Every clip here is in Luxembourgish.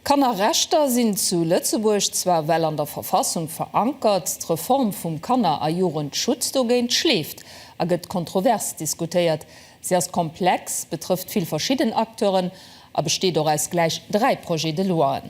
D'Kannerrechter sinn zu Lëtzebuerg zwar well an der Verfassung verankert, d'Reform vum Kanner a Jugendschutz dogéint schleeft a gëtt kontrovers diskutéiert. Se ass komplex, betrëfft vill verschidden Acteuren a besteet och aus gläich dräi Projet-de-loien.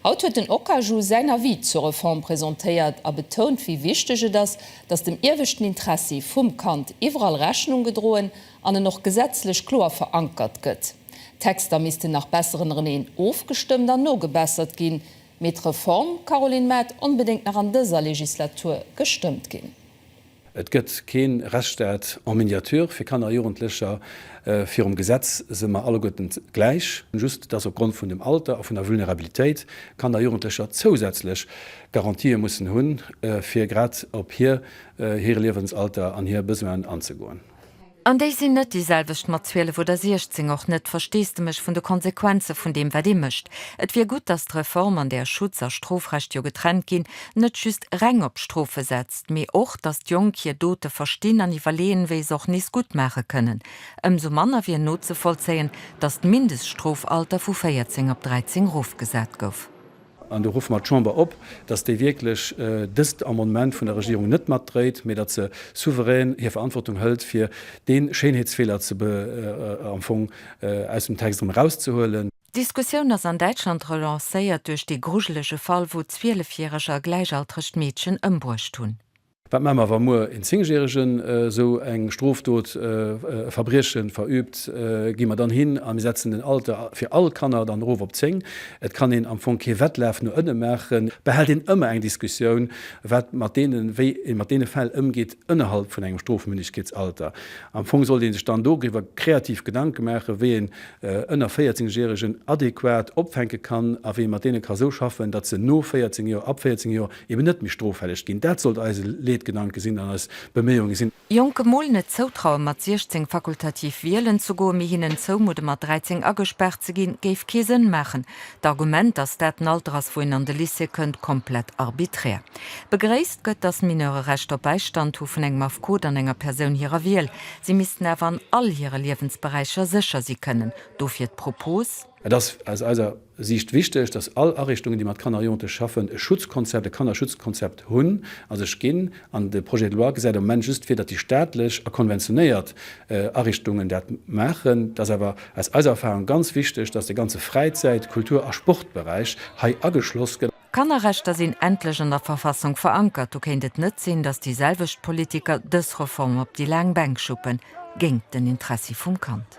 Haut huet den Okaju säin Avis zur Reform presentéiert a betount, wéi wichteg et ass, datt dem ieweschten Interessi vum Kand iwwerall Rechnung gedroen an en och gesetzlech kloer verankert gëtt. D'Texter missten nach besser ënnereneen ofgestëmmt an nogebessert ginn. Mee d'Reform, Caroline Mart, onbedéngt nach an dëser Legislatur gestëmmt ginn. Et gëtt kee Rechtsstaat en miniature fir Kanner a Jugendlecher. Virum Gesetz si mer alleguerten gläich, just dass opgrond vun dem Alter a vun der Vulnerabilitéit Kanner a Jugendlecher zousätzlech Garantië mussen hunn, fir grad op hir hire Liewensalter an hir Besoinen anzegoen. An déi sinn net déi selwecht mat 12 oder 16, och net, Versteesdemech, vun de Konsequenze vun deem, wat ee mécht. Et wier gutt, datt d'Reform, an där Schutz a Strofrecht jo getrennt ginn, net just reng op d'Strofe setzt, mee och, datt d'Jonk hir Dote verstinn an iwwerleeën, wéi se och nees gutt maache kënnen. Ëmsou manner wier nozevollzéien, datt d'Mindeststrofalter vu 14 op 13 erofgesat gouf. An do ruffe mer d'Chamber op, dass déi wierklech dëst Amendement vun der Regierung net matdréit, mee datt se souverän hir Verantwortung hëlt, fir dee Schéinheetsfeeler am Fong aus dem Text erëm erauszehuelen. D'Diskussioun ass an Däitschland relancéiert duerch dee grujelege Fall, wou 12 järeger gläichaltregt Meedchen ëmbruecht hunn. Wat maache mer, wa muer een Zéngjäregen esou eng Strofdot, e Verbrieche verüübt? Gi mer dann hin a mir setzen den Alter fir all Kanner dann erof op 10? Et kann een am Fong kee Wettlaf no ënne maachen. Et behält een ëmmer eng Diskussioun, wat mat deenen, wéi ee mat deene Fäll ëmgeet ënnerhalb vun engem Strofmündegkeetsalter. Am Fong sollt ee sech dann doriwwer kreativ Gedanke maachen, wéi een ënner 14 Järegen adequat opfänke kann a wéi ee mat deene ka esou schaffen, datt se no 14 Joer, ab 14 Joer, eben net méi stroffälleg ginn. Dat sollt eise Leedgedanke sinn an eis Beméiunge sinn. Jonke mol net zoutrauen mat 16 fakultativ wielen ze goen, mee hinnen zoumudden mat 13 agespaart ze ginn, géif kee Sënn maachen. D'Argument, dass dat den Alter ass wou een an de Lycée kënnt, komplett arbiträr. Begréisst gëtt, dass Mineure Recht op Bäistand hu vun engem Affekot an enger Persoun hirer Wiel. Si missten awer an all hire Liewensberäicher sécher si kënnen. Dofir d'Propos. Et ass aus eiser Siicht wichteg, dass all Ariichtungen, déi mat Kanner a Jonglechë schaffen, e Schutzkonzept, e Kannerschutzkonzept hunn a sech ginn. An de Projet de loi gesäit am Moment just vir, datt déi staatlech a konventionéiert Ariichtungen dat maachen. Et ass awer aus eiser Erfahrung ganz wichteg, dass de ganze Fräizäit-, Kultur a Sportberäich hei ageschloss gëtt. D'Kannerrechter sinn endlech an der Verfassung verankert. Du kéint et net sinn, dass déi selwecht Politiker dës Reform op déi laang Bänk schuppen, géingt den Interessi vum Kand.